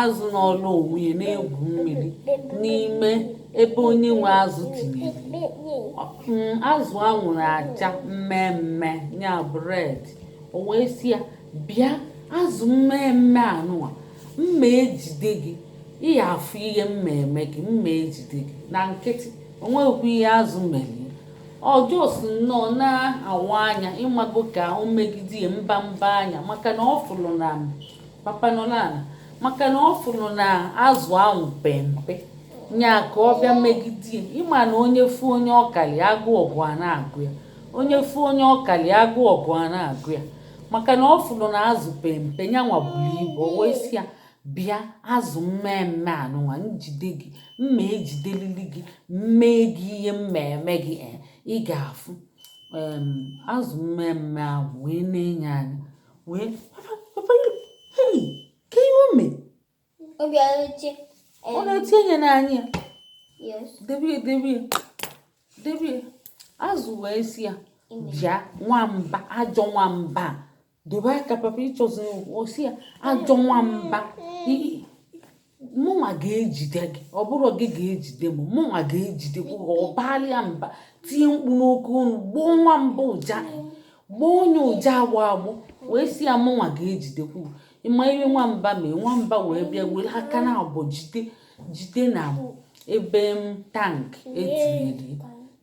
azụ nọọlụ onwe ya na-egwu mmiri n'ime ebe onye nwe azụ tinyere mm, azụ a nwere acha mmemme nya bụ red o wee sị ya bịa azụ mmemme anụwa m ma-ejide gị ị ya-afụ ihe m ma-eme gị m ma-ejide gị na nkịtị o nweghịkwa ihe azụ mere ọ just nnọọ na-awa anya ị mago ka o megide ya mba mba anya maka na ọ fụrụ na papa nọ n'ala maka na ọ fụrụ na azụ ahụ pe mpe nya ka ọ bịa megide ya ị ma na onye fụ onye ọ kalị agụụ ọgụ a na-agụ ya onye fụ onye ọ kalị agụụ ọgụ a na-agụ ya maka na ọ fụrụ na azụ pe mpe nyanwa buru ibu o wee sị ya bịa azụ mmemme anụnwa m jide gị m ma-ejidelili gị m mee gị ihe m ma-eme gị eh, ị ga-afụ azụ mmemme ahụ wee nee nya anya wee papa hei kee ihe o mee ọ na-eti enye n'anya ya debe ya debe ya debe ya azụ wee sị ya bịa nwamba ajọ nwamba dobe aka papa ị chọzi ọ sị ya ajọ nwamba mụnwa ga-ejide gị ọ bụrọ gị ga-ejide m mụnwa ga-ejide gị ọ baalị ya mba tie mkpu n'oke onu gbọọ nwamba ụja gbọọ nya ụja agbọ agbọ wee sị ya mụnwa ga-ejidekwu ị ma ihe nwamba mee nwamba wee bịa were aka naabọ jide jide na ebe m tank e tinyere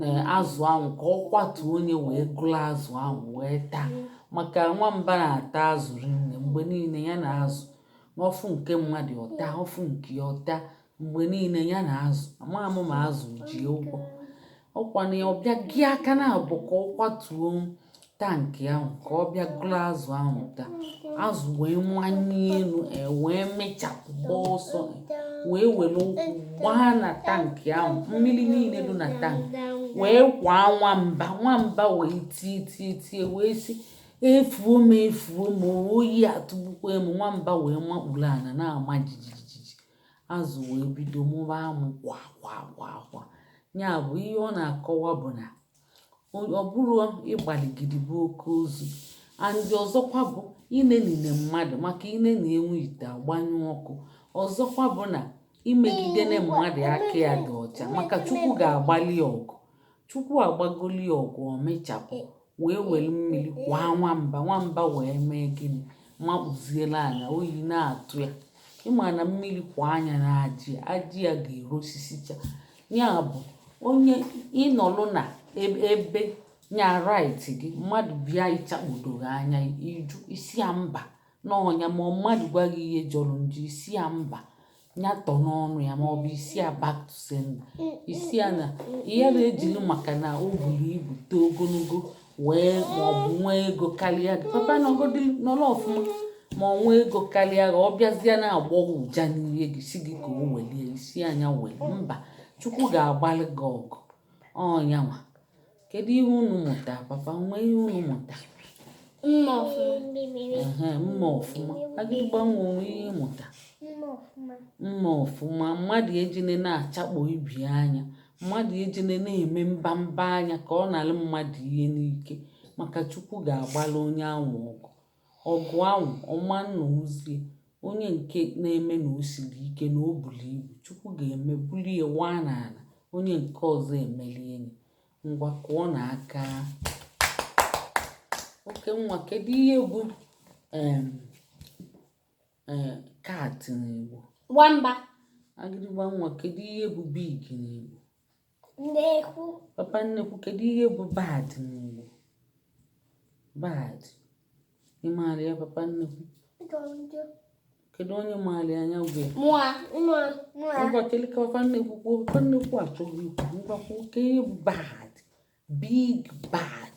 na azụ ahụ ka ọ kwatuo nya wee gụrụ azụ ahụ wee taa maka nwamba na-ata azụ rinne mgbe niile ya na azụ ọ fụ nke mmadụ ọ taa ọ fụ nke ọ taa mgbe niile ya na azụ amaghị m ma azụ ji ya ụgwọ ọ kwa na ọ bịa ji aka naabọ ka ọ kwatuo tankị ahụ ka ọ bịa gụrụ azụ ahụ taa azụ wee manie enu wee mee sharp gbaa ọsọ wee were ụkwụ gbaa na tankị ahụ mmiri niile dị na tankị wee kwaa nwamba nwamba wee tie tie tie wee sị efuo m efuo m oyi atụgbukwa m nwamba wee makpuru ana na-ama jijijiji azụ wee bido mụba amụ kwa kwa kwa kwa ya bụ ihe ọ na-akọwa bụ na ọ bụrọ ịgbaligidi bụ oke ozu and ọzọkwa bụ i nenine mmadụ maka i nenie nwa ite agbanyụọ ọkụ ọzọkwa bụ na i megidene mmadụ aka ya dị ọcha maka chukwu ga-agbalị ọgụ chukwu agbagoli ya ọgụ o mechapụ wee were mmiri kwaa nwamba nwamba wee mee gịnị makpuziela anya oyi na-atụ ya ị ma na mmiri kwaa nya n'ajị ajị ya ga-erosisicha ya bụ onye ị nọlụ na ebe nya right gị mmadụ bịa ịchakpodo gị anya ị jụ ị sị ya mba n'ọnụ ya ma mmadụ gwa gị ihe jọrọ njọ ị sị ya mba ya tọ n'ọnụ ya ma ọ bụ ị sị ya back to sender ị sị ya na ihe na-ejili maka na o buru ibu too ogologo wee ma ọ bụ nwee ego karịa gị papa nọgodi nọrọ ọfụma ma ọ nwee ego karịa gị ọ bịazịa na-agbọ gị ụja n'ihe gị sị gị ka o welie ị sị nya weli mba chukwu ga-agbalị gị ọgụ onye anwa Kedu ihe unu mụta? Papa o nwe ihe unu mụta? Mma ọfụma. Agịdịgba nwa o nwe ihe ị mụta. Mma ọfụma. Mmadụ ejine na-achakpo ibe ya anya. Mmadụ ejine na-eme mbamba anya ka ọ nalụ mmadụ ihe n'ike maka Chukwu ga-agbala onye anwa ọgụ. Ọgụ ahụ, ọma nna ozie, onye nke na-eme na o siri ike na o buru ibu, Chukwu ga-eme bulie waa n'ala, onye nke ọzọ emelie nya. Ngwa kụọnụ aka. Oke nwa, kedu ihe bụ em ee cat n'Igbo? Nwamba. Agịdịgba nwa, kedu ihe bụ big n'Igbo? papa nnekwu kedu ihe bụ bad n'Igbo bad ị maara ya papa nnekwu kedu onye maara ya nya kwue ngwa cheli ka papa nnekwu kwuo papa nnekwu achọghị ikwu ngwa kwuo kee ihe bụ bad big bad